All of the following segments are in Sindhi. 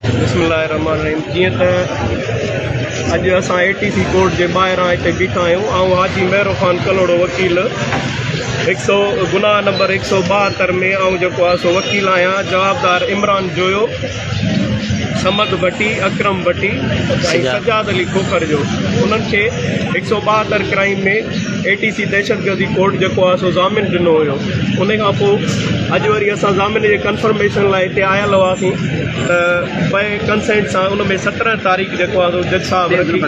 بسم الله الرحمٰن الرحيم جيئن ته اڄ اسان اي ٽي سي ڪورٽ جي ٻاهران هتي بيٺا آهيون آئون حاجي مهرو خان ڪلهوڙو وڪيل هڪ سؤ گناهه نمبر هڪ سؤ ٻاهتر ۾ آئون جيڪو آهي سو وڪيل آهيان جوابدار عمران جويو سمد ڀٽي اڪرم ڀٽي ۽ سجاد علي کوکر جو انهن کي هڪ سؤ ٻاهتر ڪرائم ۾ اي ٽي سي دهشتگردي ڪورٽ جيڪو آهي سو ضامن ڏنو هيو ان کان پوء اڄ وري اسان ضامن جي ڪنفرميشن لاء هتي آيل هئاسين ته بئي ڪنسينٽ سان ان ۾ سترهن تاريخ جيڪو آهي سو جج صاحب رکي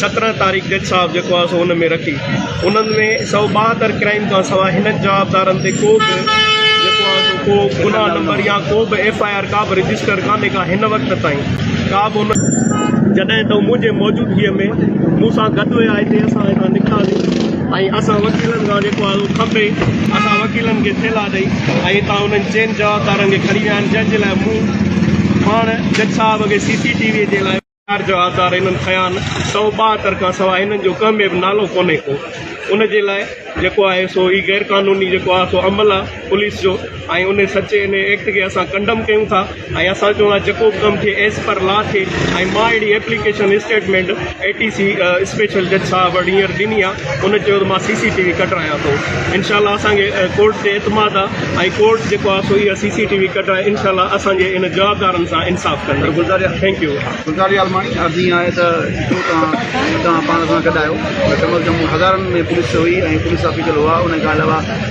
سترهن تاريخ جج صاحب جيڪو آهي سو ان ۾ رکي انهن ۾ سؤ ٻاهتر ڪرائم کان سواء هنن جوابدارن تي ڪو به جيڪو آهي سو ڪو گناهه نمبر يا ڪو به ايف آء آر ڪا به رجسٽر ڪانهي ڪا هن وقت تائين ڪا به ان جڏهن ته منهنجي موجودگيء ۾ مون سان گڏ هيا هتي اسان هتان نڪتاسين ۽ اسان وڪيلن کان جيڪو آهي اهو کپي اسان وڪيلن کي ٿيلها ڏئي ۽ هتان انهن چئن جوابدارن کي کڻي ويا آهن جنهن جي لاء مون پاڻ جج صاحب کي سي سي ٽي وي جي لاء چار جوابدار هنن کنيا آهن سؤ ٻاهتر کان سواء هنن جو ڪنهن ۾ به نالو ڪونهي ڪو ان جي لاء جيڪو آهي سو هي غير قانوني جيڪو آهي سو عمل آهي پوليس جو ۽ ان سچي ان ايڪٽ کي اسان ڪنڊم ڪيون ٿا ۽ اسان چون ٿا جيڪو به ڪم ٿئي ايز پر لا ٿئي ۽ مان اهڙي application statement A T C special جج صاحب وٽ هينئر ڏني آ ان چيو ته مان سي سي ٽي وي ڪڍرايان ٿو انشاء الله اسان کي ڪورٽ تي اعتماد آ ۽ ڪورٽ جيڪو آ سو اها سي سي ٽي وي ڪڍرائي انشاء الله اسان جي ان جوابدارن سان انصاف ڪندي گلزاريا ٿينڪ يو گلزاريا الماڻي عرض اها آهي ته جو توهان توهان پاڻ سان گڏ آهيو ته ڪم از ڪم هزارن ۾ پوليس هئي ۽ پوليس آفيسر هئا ان کان علاوه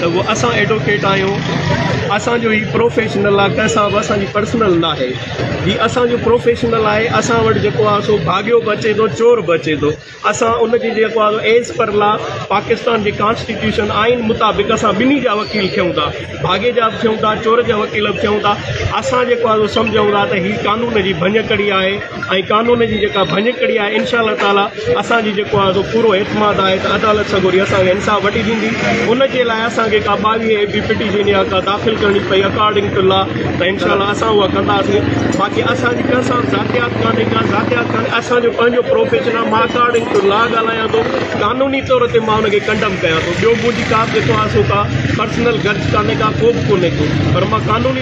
ته هو اسان ايڊوڪيٽ آهيون اسان جو هي پروفيشنل آهي ڪنهن سان به اسان جي پرسنل نه آهي هي اسان جو پروفيشنل آهي اسان وٽ جيڪو آهي سو ڀاڳيو به اچي ٿو چور به اچي ٿو اسان ان جي جيڪو آهي ايز پر لا پاڪستان جي ڪانسٽيٽيوشن آئين مطابق اسان ٻنهي جا وڪيل ٿيون ٿا ڀاڳي جا به ٿيون ٿا چور جا وڪيل به ٿيون ٿا اسان جيڪو آهي سمجهون ٿا ته هي قانون جي ڀڃڪڙي آهي ۽ قانون جي جيڪا ڀڃڪڙي آهي انشاء الله تعاليٰ اسان جي جيڪو آهي سو پورو اعتماد آهي ته عدالت سڳوري اسان کي انصاف وٺي ڏيندي ان جي لاء اسان کي ڪا ٻاويهه اي پي پٽيشن يا ڪا داخل ڪرڻي پئي اڪارڊنگ ٽو لا ته انشاء الله اسان اها ڪنداسين باقي اسان جي ڪنهن سان ذاتيات ڪانهي ڪا ذاتيات ڪانهي اسان جو پنهنجو پروفيشن آهي مان اڪارڊنگ ٽو لا ڳالهايان ٿو قانوني طور تي مان ان کي ڪنڊم ڪيان ٿو ٻيو منهنجي ڪا به جيڪو آهي سو ڪا پرسنل گرج ڪانهي ڪا ڪو به ڪونهي ڪو پر مان قانوني